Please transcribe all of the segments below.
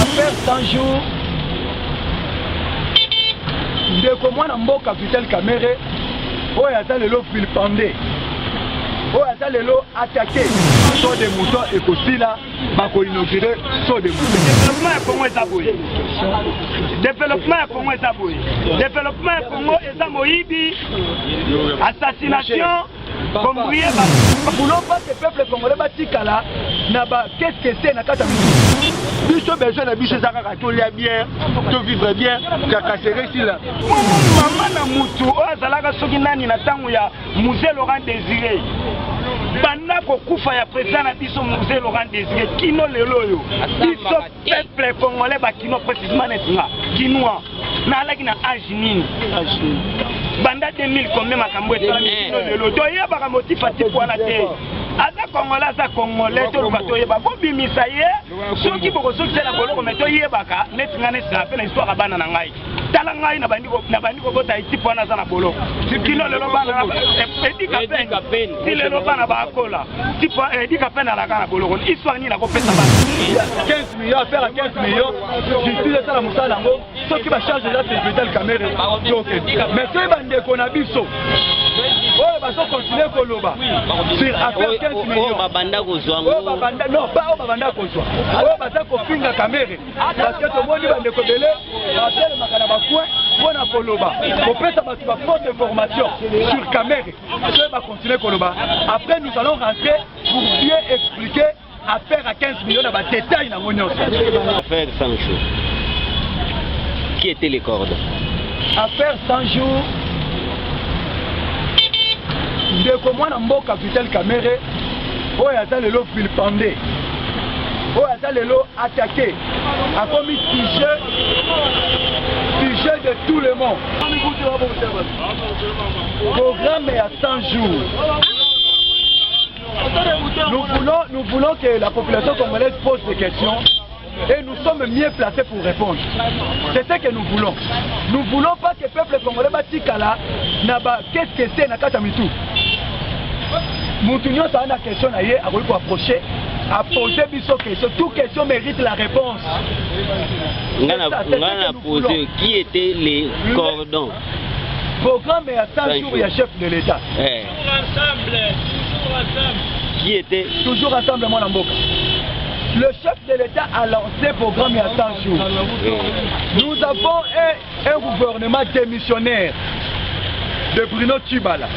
Après 100 jours, ndeko mwana mboka Vital Kamerhe oyo aza lelo vilpende oyo aza lelo atake so de mouton ekosila bakoinaugure so de mouton developement ya kongo eza boye developement ya kongo eza boye developement ya kongo eza moyibi assassination Bombrie ba boulot pas que peuple congolais batikala na ba qu'est-ce que c'est na kata biso besoin na biso eza kaka tolia bien to vivre bien kakasere sila mama na mutu oyo azalaka soki nani na ntango ya musée laurent désiré banda kokufa ya president na biso musée laurent désiré kino lelo oyo biso Peuple congolais ba kinois précisément net nga kinois na alaki na âge nini banda 2000 combien makambo esalami eh. kino lelo toyebaka motif atiku wana te aza congolais aza congolais toluka toyeba bobimisa ye soki bokosokisa na boloko me toyebaka neti nga nesila mpe na histoire ya bana na ngai tala ngai nabandi kobota ekipe wana aza na bolo kino lelo bana edika pene ti lelo bana bakola edika pene alaka na boloko histoire nini nakopesa bana 15 million affaire ya 15 million justice esala mosala yango soki bacharge eza presidential camere toke mais soki bandeko na biso oyo bazokontinue koloba sur affaire 15 million babanda kozwa non ba oyo babanda kozwa oyo baza kofinga kamere parce que tomoni bandeko ebele batelemaka na bacoin mpo na koloba kopesa bato ba fausse information sur camere soki bacontinue koloba après nous allons rentrer pour bien expliquer affaire à 15 millions na badetail nango nyonso affaire sans jour qui était les cordes affaire sans jour ndeko mwana mboka vitel camere oyo aza lelo vilpande oyo aza lelo atake akomi sujet sujet de tout le monde programme ya 100 jours nous voulons, nous voulons que la population congolaise pose des questions Et nous sommes mieux placés pour répondre. C'est ce que nous voulons. Nous ne voulons pas que le peuple congolais batikala na ba qu'est-ce que c'est na kata mitu. Mutu nyonso a na question na ye akoki ko approcher a poser biso question. Tout question mérite la réponse. Ngana ngana poser qui était les cordons. Programme ya 100 jours ya chef de l'État. Eh. qui était toujours ensemble mwana mboka le chef de l'État a lancé programme à 100 jours. Nous avons un, un gouvernement démissionnaire de Bruno Tubala.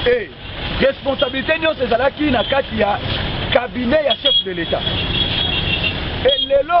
Et responsabilité nyonso ezalaki na kati ya cabinet ya chef de l'État. Et lelo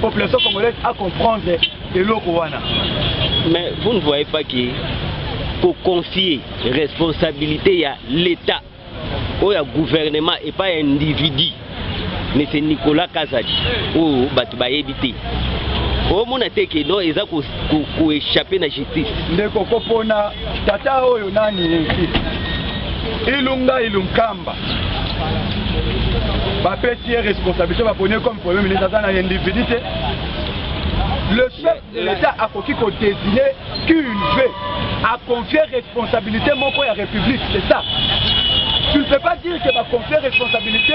population congolaise a comprendre eloko wana mais vous ne voyez pas que koconfie responsabilité ya l'état oyo ya gouvernement epai ya individu mese nicolas kazadi oyo oh, bato bayebi te omona te ke no eza koechappe na justice ndeko kopona Tata oyo nani yeki? Ilunga Ilunkamba. Bapesi ye responsabilité baponi ye comme premier ministre aza na individu te. Le chef de l'État akoki ko désigner qui il veut, a confier responsabilité moko ya république, c'est ça. Tu ne peux pas dire que ba confier responsabilité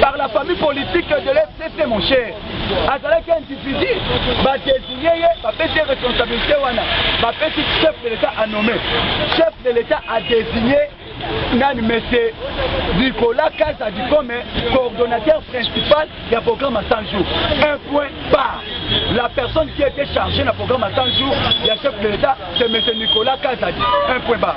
par la famille politique de l'FCC mon cher azalaki individu badesigne ye bapesi ye responsabilité wana bapesi chef de l'état à nomme chef de l'état a désigné nani monsieur nicolas kaza dikome coordonnateur principal ya programme à 100 jours un point par la personne qui était chargée na programme à 100 jours ya chef de l'état c'est monsieur nicolas kazadi un point bar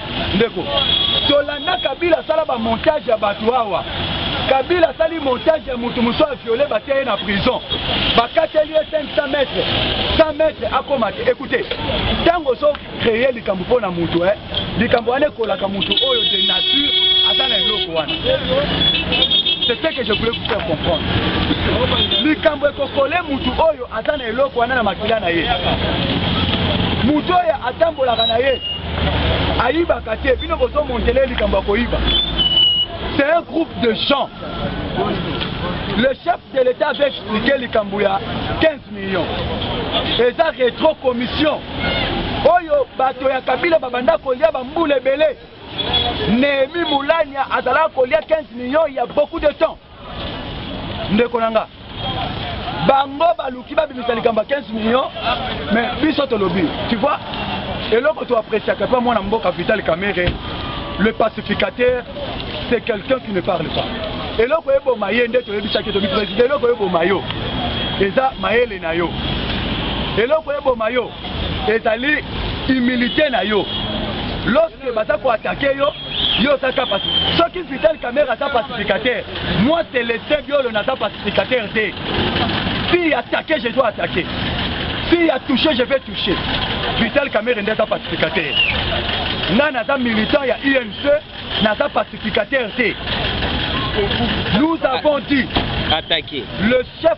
Ndeko, tolanda Kabila asala ba montage ya bato awa. Kabila asali montage ya moto mosusu a viole batia ye na prison. Bakateli ye 500 mètres. 100 mètres akoma te. Écoutez, ntango ozo créer likambo mpo na moto eh, likambo wana ekolaka moto oyo de nature aza na eloko wana. C'est ce que je voulais vous faire comprendre. Likambo ekokole moto oyo aza na eloko wana na makila na ye. Moto oyo atambolaka na ye ayibaka te bino bozo montele likambo ya koyiba c'est un groupe de gens le chef de l'état avait expliqué likambo ya 15 millions eza retro commission oyo bato ya kabila babanda kolia bambula ebele nehemi mulania azalaka kolia 15 millions ya beaucoup de temps ndeko na nga bango baluki babimisa likambo ya 15 million mais biso tolobi tu vois eloko toapreciaka mpe mwana mboka vital kamere le pacificateur c'est quelqu'un qui ne parle pas eloko eboma ye nde toyebisaki tobi président eloko eboma yo eza mayele na yo eloko eboma yo ezali humilité na yo lorsque baza koatake yo yo oza ka pasi soki vital camere aza pacificateur moi celestin biolo naza pacificateur te fille attaqué je dois attaquer fille a touché je vais toucher vital camere nde aza pacificateur nga naza militant ya unc naza pacificateur te nous avons dit attaquer le chef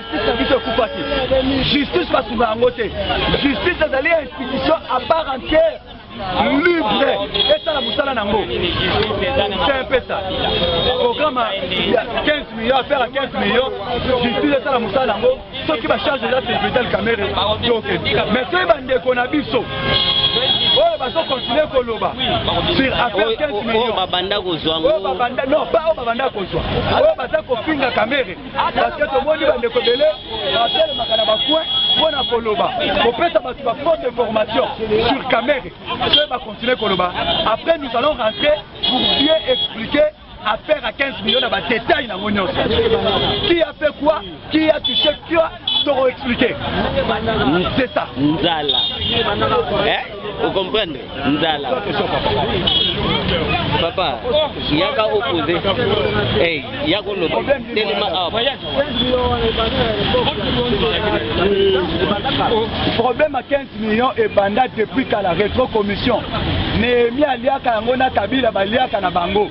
justice na biso ekufaki justice basunga yango te justice ezali institution à part entière libre esala mosala na yango se mpesa programa ya 15 million affaire ya 15 million justice esala mosala na yango soki bacharge eza presidel camere toke mais soki bandeko na biso oyo bazokontinue koloba sur affaire 15 million babanda kozwa non pas oyo babanda kozwa oyo baza kofinga kamere parce que tomoni bandeko ebele batelemaka na bacoin mpo na koloba kopesa bato ba fausse information sur camere soki bacontinue koloba après nous allons rentrer pour bien expliquer affaire à 15 millions na badetail nango nyonso qui a fait quoi qui a touché quoi toko expliquer c'est ça nzala eh? o comprendre nzala papa yaka opose hey, yaka oloba telema awa problème ya 15 millions ebanda depuis kala retro commission nehemi aliaka yango na kabila baliaka na bango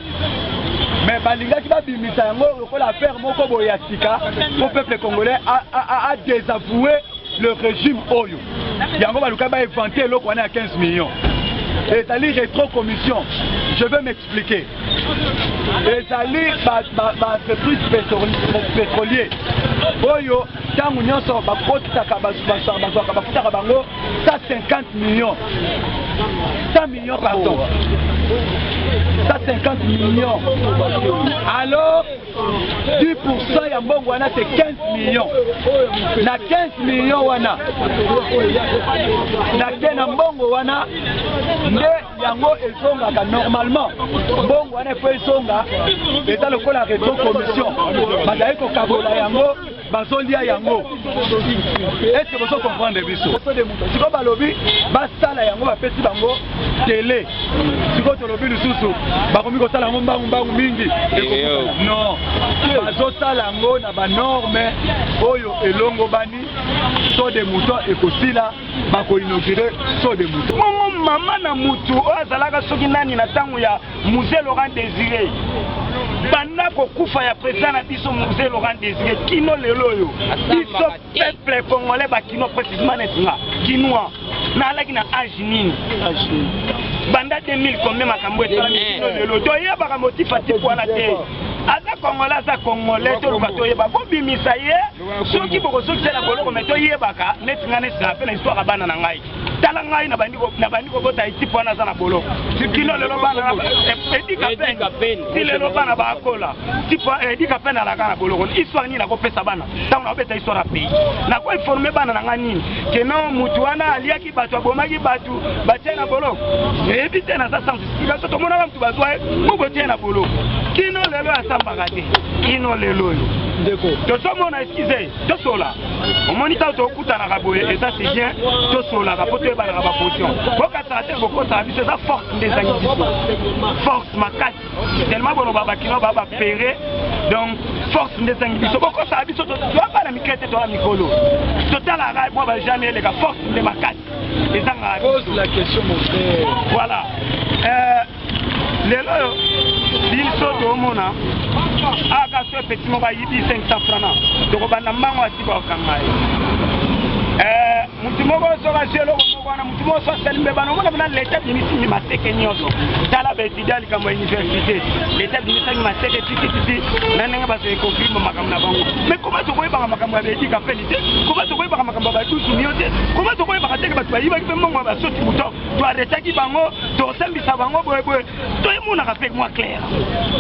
mais balingaki babimisa yango lokola affaire moko boye ya sika mpo peuple congolais a, a, a, a desavoue le régime oyo yango baluka ba éventer eloko wana ya 15 millions ezali retro commission je vais m'expliquer ezali baentreprise pétrolier oyo ntango nyonso bakotaka bazwaka bafutaka bango 150 millions 100 millions pardon 150 millions alors 10% ya mbongo wana se 15 millions na 15 millions wana na te na mbongo wana nde yango ezongaka normalement mbongo wana efo ezonga eza lokola reto commission bazali kokabola yango bazolia yango eske bozo comprendre biso sikoyo balobi basala yango bapesi bango tele sikoyo tolobi lisusu bakomi kosala yango mbangu mbangu mingi non bazosala yango na banorme oyo elongobani so de mouton ekosila bakoinaugure so de mouton mama na mutu oyo azalaka soki nani na ntango ya Mzee Laurent Desire banda kokufa ya president na biso Mzee Laurent Desire kino lelo oyo biso peuple congolais bakino precisement netinga kinois naalaki na age nini banda 2000 kombe makambo esalami kino lelo toyebaka motif atiki wana te aza kongola aza kongole toluka toyeba bobimisa ye soki bokosokisa na boloko me toyebaka neti ngai nesila mpe na histoire ya bana na ngai tala ngai nabandi kobota ekipe wana aza na bolo kino lelo bana edika pene ti lelo bana bakola edika pene alaka na boloko histoire nini nakopesa bana ntango nakobeta histoire ya pays nakoinforme bana na ngai nini keno motu wana aliaki bato abomaki bato batie na boloko eyebi te naza sans explication tomonaka motu bazwa ye bobotie na boloko kino lelo asambaka te kino lelo oyo ndeko tozomona eskize tosola omoni ntango tokutanaka boye eza si bien tosolaka mpo toyebanaka baposition bokataka te bokotaka biso eza force nde ezangi biso force makasi tellement boloba bakino ba bapere donc force nde ezangi biso bokotaka biso toa bana mikele te toa mikolo totalaka mwa bajame eleka force nde makasi ezangaka voilà euh, lelo oyo biso tomona aka so epeti moko ayibi 500 frana tokobanda mbango asika okanga ye eh, motu moko soki azwi eloko moko wana motu moko so asali mbe bana omona mna leta bimisimi maseke nyonso tala baetudia likambo ya université leta bimisaki maseke titititi na ndenge bazali kokrima makambo na bango mai koma tokoyebaka makambo ya baedika peli te koma tokoyebaka makambo ya badusu nio te koma tokoyebaka teke bato bayibaki mpe mbongo ya basoti moto to arretaki bango tosambisa bango boye boye toyemonaka mpe mwa claire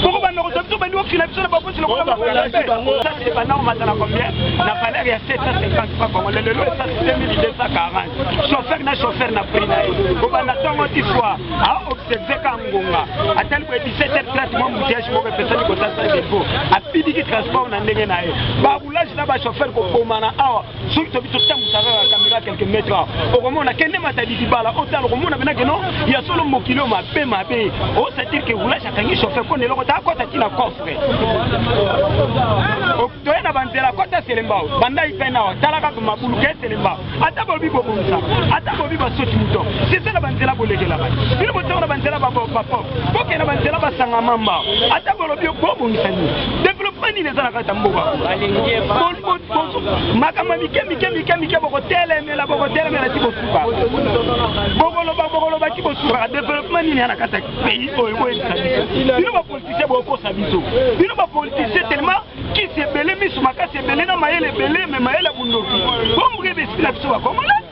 boko banda kozwa biso bandi kokila biso na bakosi lokola bakoyaebanormata na combien na valeur ya 750 franc congolais lelo esasi 2240 chauffeur na chauffeur na prix na ye obanda ntongo ti soir aobserve ka ngonga atali boye 17 30 mwa mutiage moko epesani kosasa defo apidiki transport na ndenge na ye baroulage na bachauffeur kobomana awa soki tobi totambwisa kaka kamera quelque mètre okomona kende matadi libala otala okomona pena keno ya solo mokili oyo mabe mabe osatir ke roulage akangi chauffeur mpo na eloko ta akota ti na coffre toye na banzela akota selemba banda ipena awa tala kaka mabulu ke selemba ata bobi bobongisa ata bobi basoti moto sese na banzela bolekela bato bino botongo na banzela bapop bokende na banzela basanga mamba ata bolobi bobongisa nini développement nini eza na kati ya mboka makambo ya mike mike mike mike bokotelemela bokotelemela ti bosuka bokoloba bokoloba ti bosuka developpement nini ya na kati ya pays oyo boyebisa biso bino bapolitisien bokokosa biso bino bapolitisien tellement kisi ebele miso makasi ebele na mayele ebele me mayele ya bondoki bombre ebesipila biso bakongole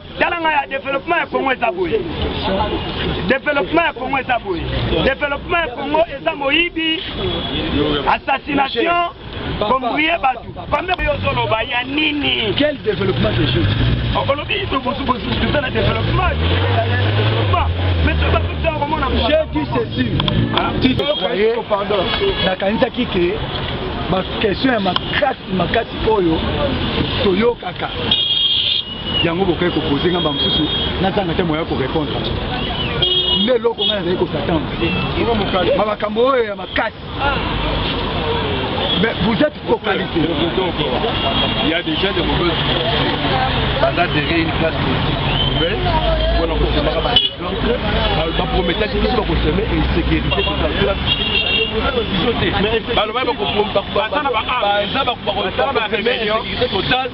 tala ngai ya developema ya kongo eza boye developema ya kongo eza boye developema ya kongo eza moyibi assassination kombrie bato pambe oyo ozoloba ya nini quel développement de jeu olobi tozala développement mais toza toza komona j'ai dit ceci nakanisaki ke bakestion ya makasi makasi oyo toyokaka yango bokei kopose nga bamosusu nazanga te moya korepondre nde eloko ngai nazali kosatendre ma makambo oyo ya makasi mais vous êtes focalisé il y a déjà des mauvaises baza derrière une classe politique mpona kosemaka baprometaki biso bakoseme insécurité totala biso te balobaki bakobaza bakoseme insécurité totale